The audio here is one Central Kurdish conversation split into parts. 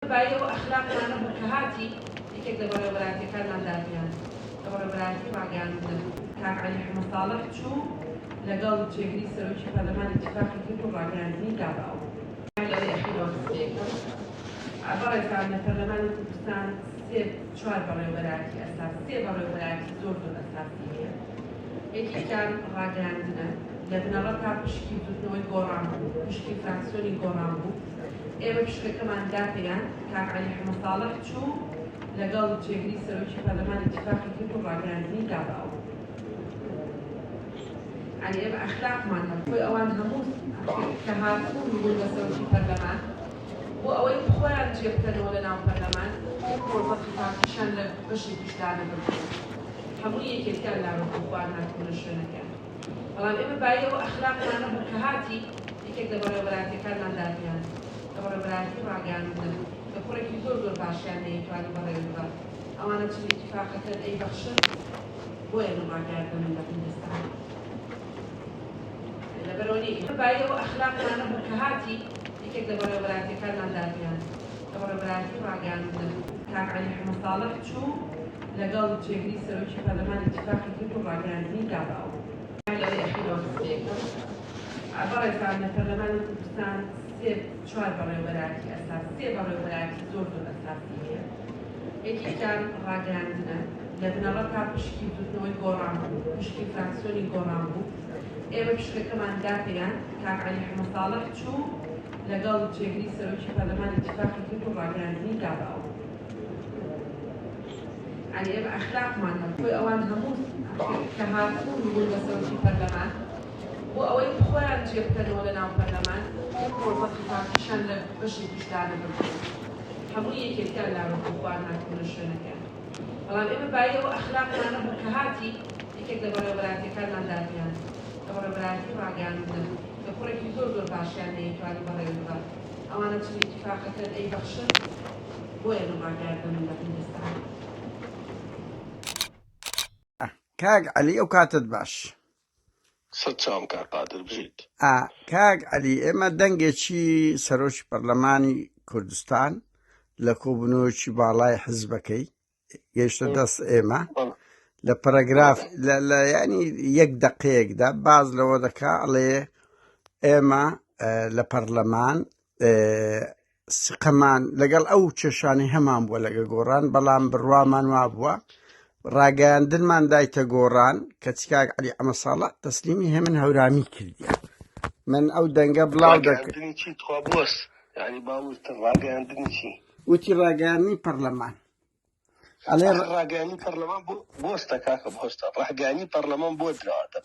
بای ئەو ئەخلاقمان نەبوو کە هاتی یەکێک لە بەڕێوەبەرایەتیەکانمان دادگاند کە بەڕێوەبەرایەتی ڕاگەیاندنە بوو. کاک عەلی حەمە ساڵح چوو لەگەڵ جێگری سەرۆکی پەرلەمان ئیتیفاقی کرد و ڕاگەیاندنی دا بە ئەو. لەوەی ئەخیرەوە قسەیەک کەم. بەڕێزان لە پەرلەمانی کوردستان سێ چوار بەڕێوەبەرایەتی ئەساسی سێ بەڕێوەبەرایەتی زۆر زۆر ئەساسی هەیە. یەکێکیان ڕاگەیاندنە. لە بنەڕەتدا پشکی بزوتنەوەی گۆڕان بوو، پشکی فراکسیۆنی گۆڕان بوو. ئێمە فیشکەکەمان داپێیاند، کاک عەلی حەمەساڵح چوو لەگەڵ جێگری سەرۆکی پەرلەمان ئیتیفاقی کرد و ڕاگەیاندنی دا بە ئەو. یانی ئێمە ئەخلاقمان هەبوو، بۆی ئەوان هەموو کە هاتبوون و بوون بە سەرۆکی پەرلەمان، بۆ ئەوەی خۆیان جێ بکەنەوە لە ناو پەرلەمان، یەک مۆزەقی پارتیشیان لە بەشێکیش دانەبردبوو، هەموو یەکێتیان لابردبوو، خۆیان هاتبوونە شوێنەکەیان. بەڵام ئێمە بایی ئەو ئەخلاقمان نەبوو کە هاتی یەکێک لە بەڕێوەبەرایەتیەکانمان دادگاند کە بەڕێوەبەرایەتی ڕاگەیاندنە کە کوڕێکی زۆر زۆر باشیان نەیتوانی بەڕێوەی ببات ئەوانە چل ئیتیفاقەکەن ئەی بەخشن بۆیە من ڕاگەیاندنە من لە هیندستان لەبەرەوە نی ئێمە بایی ئەو ئەخلاقمان نەبوو کە هاتی یەکێک لە بەڕێوەبەرایەتیەکانمان دادگاند کە بەڕێوەبەرایەتی ڕاگەیاندنە کاک عەلی حەمە ساڵح چوو لەگەڵ جێگری سەرۆکی پەرلەمان ئیتیفاقی کرد و ڕاگەیاندنی دا بە ئەو. لەڕێی ئەخیرەوە دەستپێکەم. بەڕێزان لە پەرلەمانی کوردستان سێ چوار بەڕێوەبەرایەتی ئەساسی، سێ بەڕێوەبەرایەتی زۆر زۆر ئەساسی هەیە. یەکێکیان ڕاگەیاندنە، لە بنەڕەتدا پشکی بزوتنەوەی گۆڕان بوو، پشکی فراکسیۆنی گۆڕان بوو. ئێمە پشکەکەمان دا پێیان، کاک عەلی حەمەساڵح چوو لەگەڵ جێگری سەرۆکی پەرلەمان ئیتیفاقی کرد و ڕاگەیاندنی دا بە ئەو. یانی ئێمە ئەخلاقمان هەبوو بۆی ئەوان هەموو کە هاتبوون و بوون بە سەرۆکی پەرلەمان بۆ ئەوەی خۆیان جێ بکەنەوە لە ناو پەرلەمان یەک ڕۆژ وەقتی پارتیشان لە بەشێکیش دانەبردن هەموو یەکێتیان لابردن خۆیان هاتبوونە شوێنەکەیان بەڵام ئێمە بایی ئەو ئەخلاقمان نەبوو کە هاتی یەکێک لە بەڕێوەبەرایەتیەکانمان دادگاند کە بەڕێوەبەرایەتی ڕاگەیاندنە کە کوڕێکی زۆر زۆر باشیان نەیتوانی بەڕێوەی ببات ئەوانە چ ئیتیفاقەکەن ئەیبەخشن بۆیە دڵڕاک گارد دەمن لە هندستان. ئا کاک عەلی ئەو کاتەت باش. سە چاوم کاک قادر بژیت. ئا کاک عەلی ئێمە دەنگێکی سەرۆکی پەرلەمانی کوردستان لە کۆبونەوەیەکی باڵای حزبەکەی گەیشتە دەست ئێمە لە پەرەگراف لە ینی یەک دقەیەکدا باز لەوە دەکا ئەڵێ ئێمە لە پەرلەمان سقەمان لەگەڵ ئەو چێشانی هەمان بووە لەگە گۆڕان بەڵام بڕوامان وا بووە ڕاگەیاندنمان دایتە گۆڕان کە چکاک علی ئەمە ساڵە تەسلیمی هێ من هەورامی کردیە من ئەو دەنگە بڵاو دەکردنی چی تخوا بوەست ینی باوتە ڕاگەیاندنی چی وتی ڕاگەیاندنی پەڕلەمان ئەڵێ ئەخر ڕاگەیاندنی پەڕلەمان بۆ بۆستە کاکە بۆستە ڕاگەیاندنی پەڕلەمان بۆ دراوەتە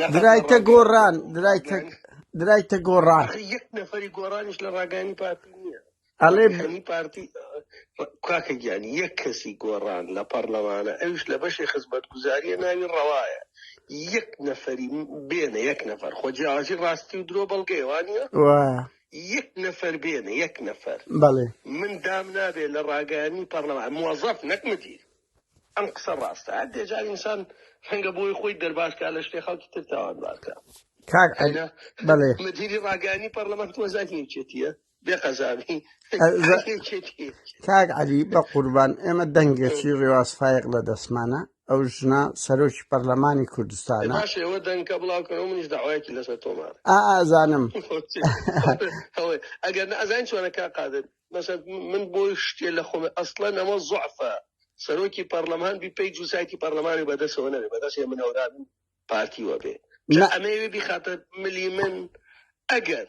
نەقەت لە درایتە ڕاگەیاندنی گۆڕان پەڕلەمان درایتە ڕاگەیاندنی درایتە گۆڕان ئەخر یەک نەفەری گۆڕانیش لە ڕاگەیاندنی پارتی نییە ئەڵێ ڕاگەیاندنی پارتی ڕ- کاکە گیان یەک کەسی گۆڕان لە پەڕلەمانە ئەویش لە بەشی خزمەتگوزاریە ناوی ڕەوایە یەک نەفەری بێنە یەک نەفەر خۆ جیاوازی ڕاستی و درۆ بەڵگەیە وانە وایە یەک نەفەر بێنە یەک نەفەر بەڵێ من دام نابێت لە ڕاگەیانی پەڕلەمان موەزەف نەک مدیر ئەم قسە ڕاستە هەر دێجار ئینسان ڕەنگە بۆی خۆی دەرباشکە لە شتێ خەڵکی تر تاوانبارکە کاک عەلی ئەنا بەڵێ مدیری ڕاگەیانی پەڕلەمان تۆ زانی یەکێتیە بێ قەزاوی ئەزا- یەکێتی کاک عەلی بە قوربان ئێمە دەنگێکی ڕێواز فایق لە دەستمانە ئەو ژنە سەرۆکی پەرلەمانی کوردستانە. ئەی باشە ئێوە دەنگکە بڵاو کەن و منیش دەعوایەکی لەسەر تۆمار. ئا ئازانم. هەوەی ئەگەر نە ئەزانین چۆنە کاک قادر مەسەن من بۆ شتێ لە خۆم ئەسڵەن ئەمە زوعفە سەرۆکی پەرلەمان بی پەیج و سایتی پەرلەمانی بەدەسەوە نەبێ بەدەست هێمن هەورابن پارتی وەبێ جا ئەمەوێ بیخاتە ملی من ئەگەر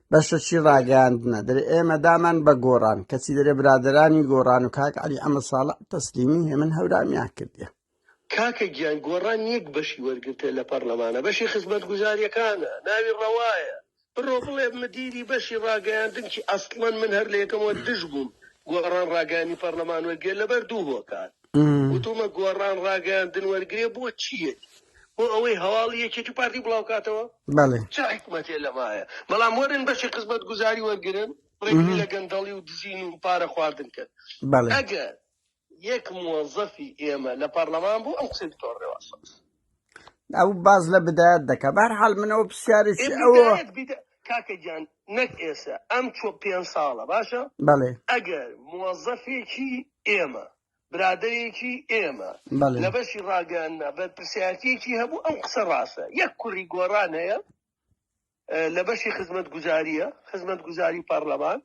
بەشە چی ڕاگەاندنە دەێ ئێمە دامان بە گۆڕان کەچی دەێ برادرانی گۆڕان و کاک علی ئەمە ساڵە تەسلیمی هێمن هەورامیان کردە کاکە گیان گۆڕان یەک بەشی وەرگتە لە پەرلەمانە بەشی خزمەت گوزاریەکانە ناوی ڕەوایە بڕۆ بڵێ مدیری بەشی ڕاگەیاندنکی ئەسڵەن من هەر لە یەکەمەوە دژ بووم گۆڕان ڕاگەانی پەرلەمان وەرگێ لەبەر دوو هۆکار وتومە گۆڕان ڕاگەیاندن وەرگێ بۆ چیەتی بۆ ئەوەی هەواڵی یەکێتی و پارتی بڵاوکاتەوە بەڵێ چ حکمەتێ لەمایە بەڵام وەرن بەشی خزمەت گوزاری وەرگن ڕێگری لە گەندەڵی و دزین و پارە خواردن کرد بەڵێ ئەگەر یەک موەزەفی ئێمە لە پەرلەمان بوو ئەم قسەی دکتۆر ڕێواس ئەو باز لە بدایەت دەکە بار حال منەوە پرسیارێکی ئەوە کاکە گیان نەک ئێسە ئەم چۆ پێ ساڵە باشە بەڵێ ئەگەر موەزەفێکی ئێمە برادێکی ئێمە لە بەشی ڕاگەاننا بەرپسیاتێکی هەبوو ئەو قسە ڕاستە یەک کوڕی گۆڕان هەیە لە بەشی خزمەتگوزاریە خزمەتگوزاری پەرلەمان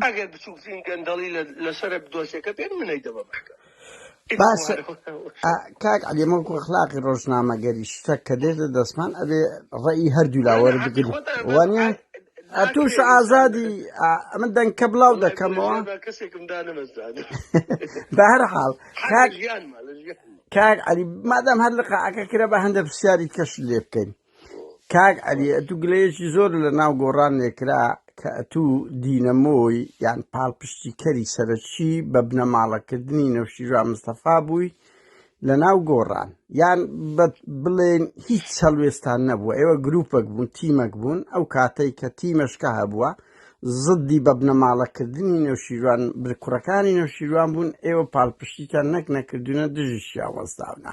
ئەگەر بچووکترین گەندەڵی لەسەر دۆسیەکە بێت منەی دەبە بەشکە کاک ئەلیمە خلاقی ڕۆژنامەگەری شتە کە دێتە دەستمان ئەبێ ڕێی هەردوو لاوەر بگرین وانە ئەتوش ئازادی ئەمە دەنکە بڵاو دەکەمەوە بەهر حاڵ کاک ئەلی مادەم هەر لقاعەکە کرە بە هەندە پرسیاری کەش لێ بکەین کاک علی ئەتو گلەیەکی زۆر لە ناو گۆڕان نێکرا کە ئەتو دینەمۆی یان پاڵپشتی کەری سەرەکی بە بنەماڵەکردنی نەوشیرا مستەفا بووی لە ناو گۆڕان یان بڵێن هیچ سەلوێستان نەبووە ئێوە گروپەک بوون تیمەک بوون ئەو کاتەی کە تیمەشکە هەبووە زدی بە بنەماڵەکردنی نەوشیروان برکوڕەکانی نەوشیروان بوون ئێوە پاڵپشتیتان نەک نەکردوونە دژی شیاوەزداونە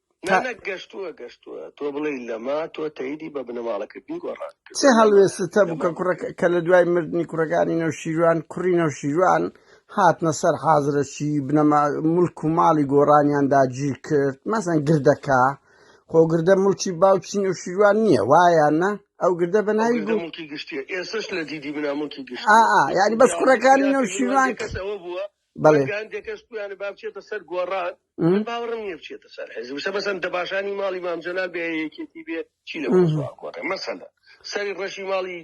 تا نە گەشتووە گەشتووە تۆ بڵێ لەما تۆ تەیدی بە بنەماڵەکردنی گۆڕان چ کردووە لەما هەڵوێستتە بوو کە لەما کوڕەکە کە لە دوای مردنی کوڕەکانی نەوشیروان کوڕی نەوشیروان هاتنە سەر حازرەکی بنەما ملک و ماڵی گۆڕانیان داگیر کرد مەسەن گردەکە خۆ گردە ملکی باوکی نەوشیروان نییە وایانە ئەو گردە بە ئەو ناوی گردە گو ملکی گشتیە ئێسش لە دیدی مناملکی ئا گشتیە ئا یعنی بەس پیاوەکە کوڕەکانی پیاکردنی من نەوشیروان بێ کەس ئەوە بووە بەڵێ بەڵکە هەندێک کەس پویانە با بچێتە سەر گۆڕان م. من باوەڕم نییە بچێتە سەر حێزی وسە بەسەن دەباشانی ماڵی مامجەلال بێ یەکێتی بێ چی لە مەوزوع گۆڕێ مەسەلە سەری ڕەشی ماڵی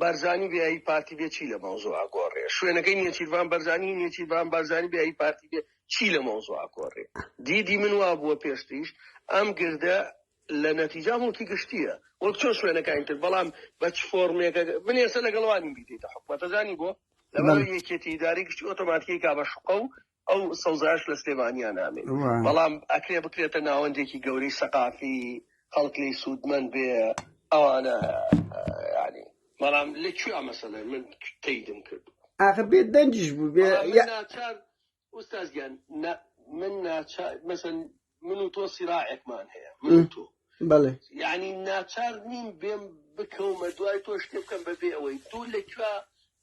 بارزانی بێ هی پارتی بێ چی لە مەوزوع گۆڕێ شوێنەکەی نێچیرڤان بەرزانی نێچیرڤان بارزانی بێ هی پارتی بێ چی لە مەوزوع گۆڕێ دیدی من وا بووە پێشتیش ئەم گردە لە نەتیجا موڵکی گشتیە وەک چۆن شوێنەکانی تر بەڵام بە چ فۆرمێکە من ێسە لەگەڵوانی بیدیتە حکومەتەزانی بۆ لەبەر یەکێتی ئیدارەی گشتی ئۆتۆماتیکی کا بە شوقە و ئەو سەوزایش لە سلێمانیا نامێ بەڵام ئەکرێ بکرێتە ناوەندێکی گەورەی سەقافی خەڵک لی سوودمەند بێ ئەوانە ینی بەڵام لە کوێ مەسەلە من تیدم کرد ئاخر بێ دەنجش بوو بێ ناچار ئوستاز گیان نا من ناچار مەسەن من و تۆ سیراعێکمان هەیە من و تۆ بەڵێ یعنی ناچار نیم بێم بکەومە دوای تۆ شتێ بکەم بەبێ ئەوەی دوو لە کوێ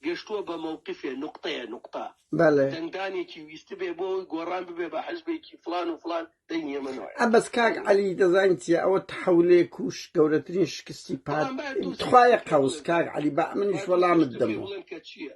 گەشتووە بە مەوقفێ نقطەیە نقطە بەڵێ دەنگدانێکی ویست بێ بۆ ئەوی گۆڕان ببێ بە حزبێکی فلان و فلان دەنگی ئێمە نوێ ئە بەس کاک عەلی دەزانین چیە ئەوە تحولێ کوش گەورەترین شکستی پات بەڵام باید دوو تخوایە قەوس کاک عەلی بە منیش وەڵامت دەمەوە بڵێن کە چییە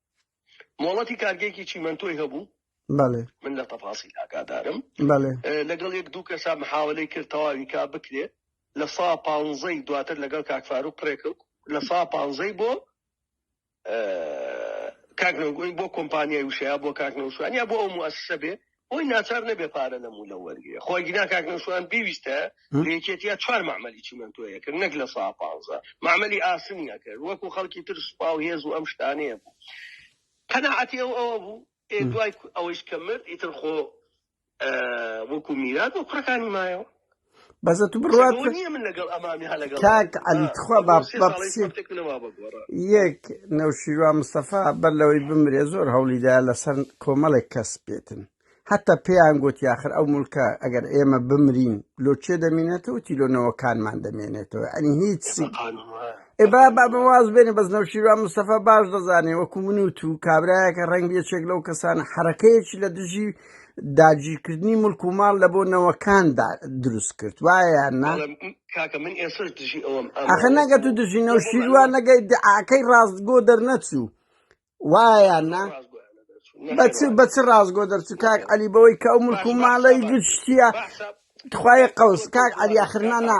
مۆڵەتی کارگەیەکی چیمەنتۆی هەبوو بەڵێ من لە تەفاسی ئاگادارم بەڵێ لەگەڵ یەک دوو کەسا محاولەی کرد تەواوی کا بکرێت لە سا پانزەی دواتر لەگەڵ کاکفار و قڕێک لە سا پانزەی بۆ کاکنەوەگوی بۆ کۆمپانیای وشەیە بۆ کاکنەوشوانیا بۆ ئەو موسسە بێ بۆی ناچار نەبێ پارە لەم و لەو وەرگرێ خۆ ئەگینا کاک نەوشەوان بیویستە لە یەکێتیا چوار مەعمەلی چیمەنتۆی ئەکرد نەک لە سا پانزە مەعمەلی ئاسنی ئەکرد وەکو خەڵکی تر سوپا و هێز و ئەم شتانەیە بوو قەناعەتی ئەو ئەوە بوو ئێ دوای ئەوەیش کە مرد ئیتر خۆ وەکو میرات بۆ کوڕەکانی مایەوە بەزە تو بڕوات سەگەوە نییە من لەگەڵ ئەمامی هە لەگەڵ کاک عەلی تخوا با سێ با ساڵەی بچێت پارتێک منەما بە گۆڕا یەک نەوشیروان مستەفا بەر لەوەی بمرێ زۆر هەوڵی دا لەسەر کۆمەڵێک کەس بێتن حتا پێیان گوت یاخر ئەو ملکە ئەگەر ئێمە بمرین لۆ چێ دەمێنێتەوە تی لۆ نەوەکانمان دەمێنێتەوە ئەنی هیچ بە سی قانون وایە ئێ بە با با قانون بە واز وایە بێنێ بەس نەوشیروان مستەفا باش دەزانێ وەکو من و تو کابرایەکە ڕەنگ یەکێک لەو کەسانە حرەکەیەکی لە دژی داگیرکردنی ملک و ماڵ لە بۆ نەوەکاندا دروست کرد وایە نا ئەخە نەگە تو دژی نەو شیروە نەگەی دعاکەی ڕاستگۆ دەرنەچوو وایە نا بەچ بەچ ڕاستگۆ دەرچوو کاک علی بەوەی کە ئەو ملک و ماڵی گشتیە تخوای قەوس کاک علی آخرنا نا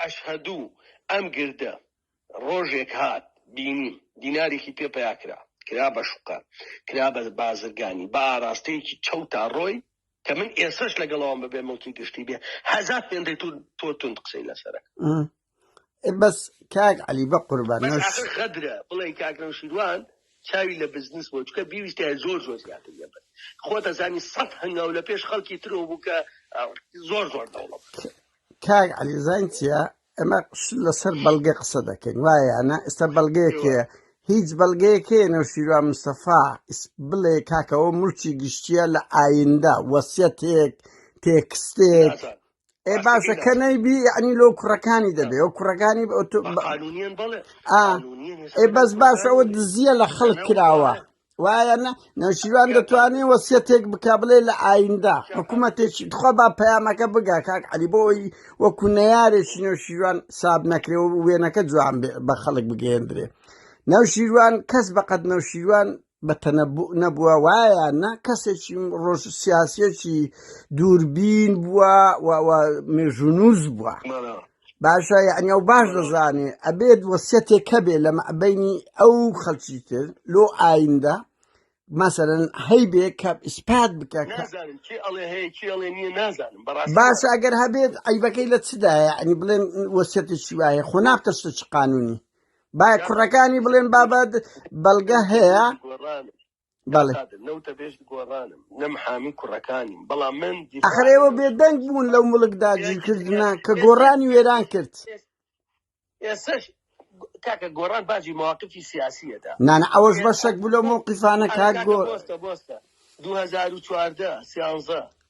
ئەشهەدو ئەم گردە ڕۆژێک هات بینیم دینارێکی پێ پەیا کرا کرا بە شوقە کرا بە بازرگانی بە ئاراستەیەکی چەوتا ڕۆی کە من ئێسەش لەگەڵەوەم بەبێ مڵکی گشتی بێ هەزار پێندەی تۆ تۆ توند قسەی لەسەرە ئێ بەس کاک عەلی بە قوربان بەس نەوش ئاخر غەدرە بڵێی کاک نەوشیروان چاوی لە بزنس بۆ چکە بیویستایە زۆر زۆر زیاتر لێ بن خۆت ئەزانی سەد هەنگاو لە پێش خەڵکی ترەوە بوو کە ئە، زۆر زۆر دەوڵەمەند کاک علی زانگ چیە ئەمە لەسەر بەڵگە قسە دەکەین وایەنە ئێستا بەڵگەیەکێ هیوا هیچ بەڵگەیەکێ نەوشیروا مستەفا ئیس بڵێ کاکەوە ملکی گشتیە لە ئایندا وەسیەتێک تێکستێک نازان ئێ ڕاستەکەی باشە کە نازان نەیبی یعنی لۆ کوڕەکانی دەبێ نازان ئەو کوڕەکانی بە ئۆتۆ بە بە- قانونیان بەڵێ ئا قانونیان ئێ هێشتا بەس بەرەو باش ئەوە خۆیانەوە دزیە لە خەڵک لەناو کراوە ئارا وایە نە نەوشیروان دەتوانێت وەسیەتێک بک بڵێ لە ئایندە حکوومەتێکی تخوا با پەیامەکە بگا کاک علی بۆی وەکو نەیارێکی نەوشیروان ساب نەکرێ و وێنەکە جوان بێ- بە خەڵک بگەێندرێ نەوشیروان کەس بەقەت نەوشیروان بە تەنەبوو نەبووە وایە نە کەسێکی ڕۆژ سیاسەتی دووربین بووە و و مێژوونووس بووە مانا باشە یعنی ئەو باش دەزانێ ئەبێت وەسیەتێک هەبێ لە مەبینی ئەو خەڵکی تر لۆ ئایندە مەسەرەن هەیبێ کە ئیسپات بکە کە نازانم چی ئەڵێ هەیە چی ئەڵێ نییە نازانم بەڕاستی باشە نازانم ئەگەر هەبێت عیبەکەی لە چدایە ئەنی بڵێن وەسیەتی چی وایە خۆ نابتە شتە چ قانونی با نازانم کوڕەکانی بڵێن بابەت بەڵگە هەیە گۆڕانم بەڵێ ئەخر ئێوە بێدەنگ بوون لەو مڵکدا جیکردنا کە گۆڕانی وێران کرد کاکە گۆڕان باجی مواقفی سیاسیەدا نانە ئەوەش بەشێک بلۆ موقیفانە کار گۆ 2014 سیانزە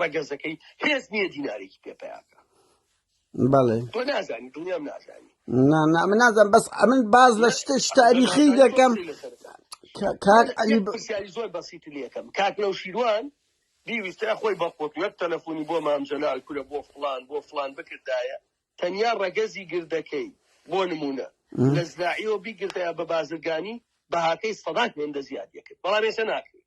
ڕەگەزەکەی هێز نییە دینارێکی پێ پیاکە بەڵێ تۆ نازانی دڵنیام نازانی نا نا من نازم بەس ئەمن باز لە شتش تاریخی دەکەم کاک علی پرسیاری زۆر بەسیت لەکەم کاک لەو شیروان بیویستە خۆی بەخۆت وەک تەلەفۆنی بۆ مامجلال کورە بۆ فلان بۆ فلان بکردایە تەنیا ڕەگەزی گردەکەی بۆ نمونە لە زراعیەوە بیگردەیە بە بازرگانی بەهاکەی سەدات هێندە زیاد یەکرد بەڵام ێسە ناکرێت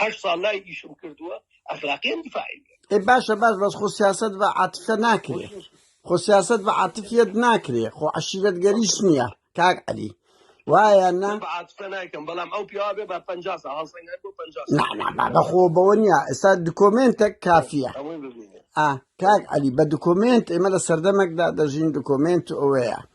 هەشت ساڵ لای ئیشم کردووە ئەخلاقیان دیفاعی ئێ باشە باش بەس خۆ سیاست بە عاتفە ناکرێ خۆ سیاست بە عاتفیت ناکرێ خۆ عشیرەت گەریش نییە کاک علی وایە نا بە عاتفە نایکەم بەڵام ئەو پیاوە بێ بە 50 ساڵ هەڵسەنگەر بۆ 50 ساڵ. نانا بابە خۆ بەوە نییە ئێستا دکۆمێنتێک کافیە ئەوەی ببینێ ئا کاک علی بە دکۆمێنت ئێمە لە سەردەمێکدا دەژین دکۆمێنت ئەوەیە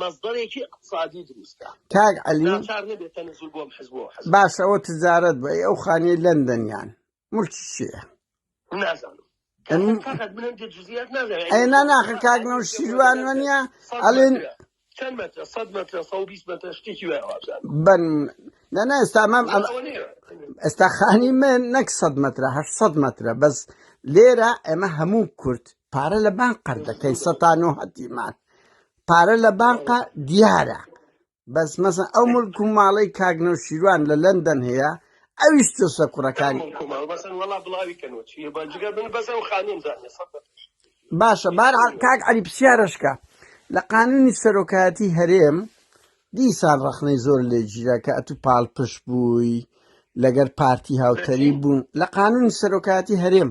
مەزبەرێکی ئیقتسادی دروست کا کاک علی ناچار نەبێت تەنزول بۆم حزب و حزب باس ئەوە تجارەت بە ئەو خانیە لەندەنیان ملکی چیە نازانم ئەم- کاکەت بلند جزئیات نازانم ئەی نا ناخە کاک نەو شیروان وەنیە ئەڵێن چەند مەترە 100 مەترە 120 مەترە شتێکی وایە وابزان بن نەنا ئێستا مام ئەم ئەوە نیە ئێستا خانی من نەک 100 مەترە 800 مەترە بەس لێرە ئێمە هەموو کورد پارە لە بان قەر دەکەین سەتان و هەتیمان پارە لە بانقا دیارە بەس مەسە ئەو ملک و ماڵی کاگنەو شیروان لە لەندەن هەیە ئەویش تۆسە کوڕەکانی باشە بار کاک علی پرسیارشکە لە قانونی سەرۆکایەتی هەرێم دیسان ڕخنەی زۆر لێ گیرە کە ئەتو پاڵ پشت بووی لەگەر پارتی هاوتەری بوون لە قانونی سەرۆکایەتی هەرێم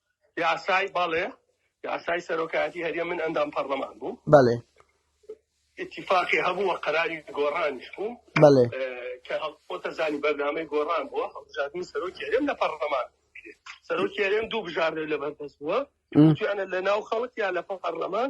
یاسای بەڵێ یاسای سەرۆکایەتی هەرێم من ئەندام پەرلەمان بووم بەڵێ اتفاقی هەبوو و قەراری گۆڕانیش بوو بەڵێ کە هەڵپۆتە زانی بەرنامەی گۆڕان بووە هەڵبژاردنی سەرۆکی هەرێم لە پەرلەمان کرێ. سەرۆکی هەرێم دوو بژاردە لە بەردەست بووە مم. توانە لە ناو خەڵک یا لە پەرلەمان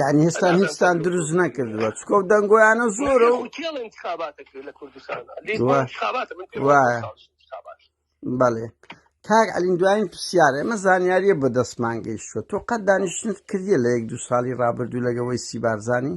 یعنی هێستا هیچستان دروست نەکردوە چکۆ دەنگۆیانە زۆرە و بەڵێ کاک ئەلین دوایین پرسیارە ئەمە زانیاریە بە دەستمان گەیشتوە تۆ قەت دانیشتنت کردیە لە یەک دو ساڵی رابردوو لەگەوەی سیبارزانانی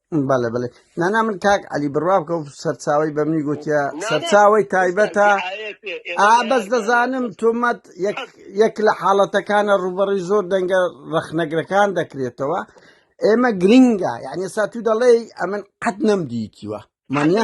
بەڵێ بڵێ نانا من کاک علی بڕوا بکە و سەرچاوی بە منی گوتە سەرچاوی تایبەتە ئا بەس دەزانم تۆمەت یەک لە حاڵەتەکانە ڕوبەڕی زۆر دەنگە ڕەخنەگرەکان دەکرێتەوە ئێمە گرنگە یعنی سا تو دەڵێ ئەمن قەت نەمدیتیوە منە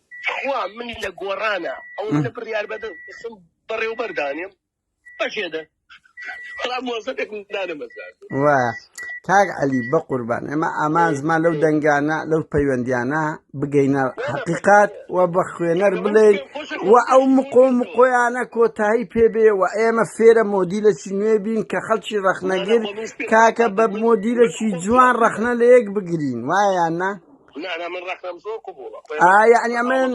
تخوا من لە گۆڕانا ئەوە منە بڕیار بەدە قسم بەڕێوبەر دانێم بەجێدە بەڵام مۆزەێک دانەمەزار وا کاک علی بە قوربان ئێمە ئامانزمان لەو دەنگانە لەو پەیوەندیانە بگەینە حقیقات و بە خوێنەر بڵێین و ئەو مقۆ مقۆیانە کۆتایی پێبێ و ئێمە فێرە مۆدیلەکی نوێ بین کە خەڵکی ڕەخنەگر کاکە بە مۆدیلەکی جوان ڕەخنە لە یەک بگرین وایە نا ئایا ئەنی ئەمن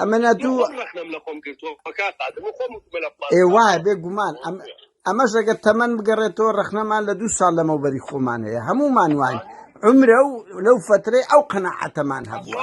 ئەمەە دوو ئێ وایە بێ گومان ئەم ئەمەش ئەگەر تەمەەن بگەڕێتەوە ڕخنەمان لە دوو ساڵ لەمەوبەری خۆمان هەیە هەمومان وای عمرە و لەو فترەی ئەو قەنەعەتەمان هەبووە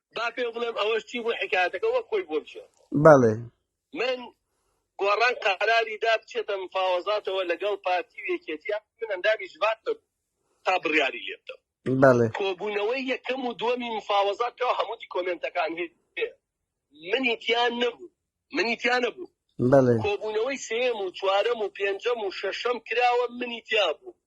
با پێ بڵێم ئەوەش چی بوو حکایەتەکە وەک خۆی بۆ بژێ بەڵێ من گۆڕان قەراری دا بچێتە مفاوەزاتەوە لەگەڵ پارتی و یەکێتیە من ئەندامی ژبات نەبوو تا بڕیاری لێ بدەم بەڵێ کۆبوونەوەی یەکەم و دووەمی مفاوەزاتەوە هەموو دیکۆمێنتەکان هەیە منی تیان نەبوو منی تیا نەبوو. بەڵێ. کۆبوونەوەی سێیەم و چوارەم و پێنجەم و شەشەم کراوە منی تیا بوو.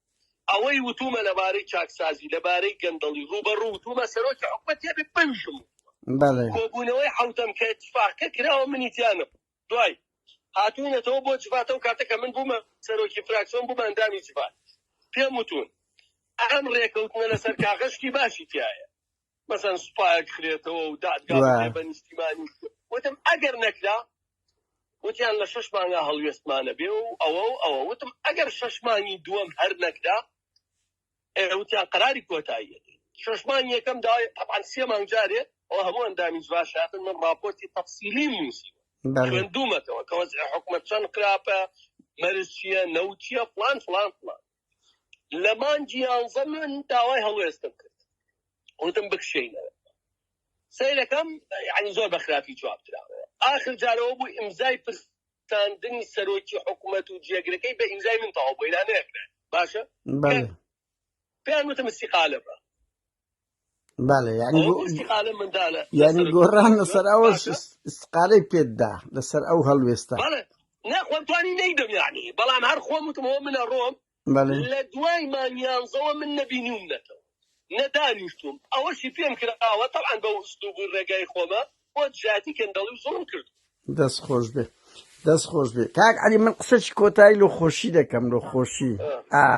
ئەوەی وتوومە لەبارەی چاکسازی، لەبارەی گەندەڵی ڕووبەڕوو وتوومە سەرۆکی حکومەت تێبێ بەویشم وتووە. بەڵێ. کۆبوونەوەی حەوتەم کە ئیتفاقەکە کراوە منی تیا نەبوو. دوای هاتووینەتەوە بۆ جڤات ئەو کاتە کە من بوومە سەرۆکی فراکسیۆن بوومە ئەندامی جڤات پێم وتوون ئەم ڕێکەوتنە لەسەر کاغەز شتی باشی تیایە مەسەن سوپایەک خرێتەوە و دادگا بکرێت بە نیشتیمانی وتم ئەگەر نەکرا وتیان لە شەش مانگا هەڵوێستمانە بێ و ئەوە و ئەوە وتم ئەگەر شەش مانگی دووەم هەر نەکرا وتیان قەراری کۆتاییە شەش مانگ یەکەم داوای تەبان سێ مانگ جارێ ئەو هەموو ئەندامی جواشاتن من ڕاپۆرتی تەفسیلی نووسی خوێندومەتەوە کە وەزع حکومەت چەند قراپە مەرز چییە نەوتیە فلان فلان فلان لە مانگی یانزە من داوای هەڵوێستم کرد وتم بکشێینەوە سیرەکەم ینی زۆر بە خراپی جواب دراوە ئاخر جارەوە بوو ئیمزای پرساندنی سەرۆکی حکوومەت و جێگرەکەی بە ئیمزای من تەواو بۆی نانێکرێت باشە بەڵێ پێیان وتم استیقالە بە بەڵێ یعنی ئەوە بۆ استقالە مندالە یعنی لەسەر گۆڕان گۆڕان لەسەر ئەوە باشە س- استقالەی پێتدا لەسەر ئەو هەڵوێستە بەڵێ نا خۆم توانی نەیدەم یعنی بەڵام هەر خۆم وتمەوە منە ڕۆم بەڵێ لە دوای مانیانزەوە من نەبینیوم نەتەوە نەدانیشتوم ئەوەشی پێم کراوە تەعاان بە ئوسلوب و ڕێگای خۆمە بۆ جاتی گەندەڵی و زوڵم کرد. دەست خۆش بێ دەست خۆش بێ کاک علی من قسەی کۆتایی لە خۆشی دەکەم لە خۆشی ئا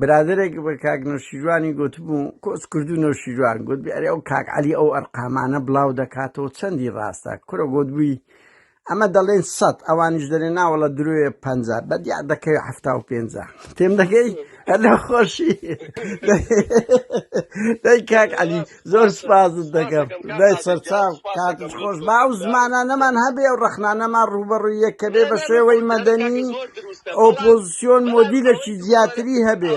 برادێک بە کاک نەوشیروانی گوتبوو کۆس کرد و نەوشیروان گوت بێ ئەو کاک علی ئەو ئەرقامانە بڵاو دەکاتەوە چەندی ڕاستە کورە گوت بووی ئەمە دەڵێن سەد ئەوانیش دەێن ناوەڵە درۆێ پ بەدیا دەکەوێت هەفتا و پێ تێم دەگەی لە خۆشی دەی کاک علی زۆر سپازت دەگەم دای سەرچاو کات خۆش با و زمانە نەمان هەبێ و ڕەخنانەمان ڕوبەڕووی یەکەبێ بە شێوەی مەدەنی ئۆپۆزیسیۆن مۆدیلەکی زیاتری هەبێ.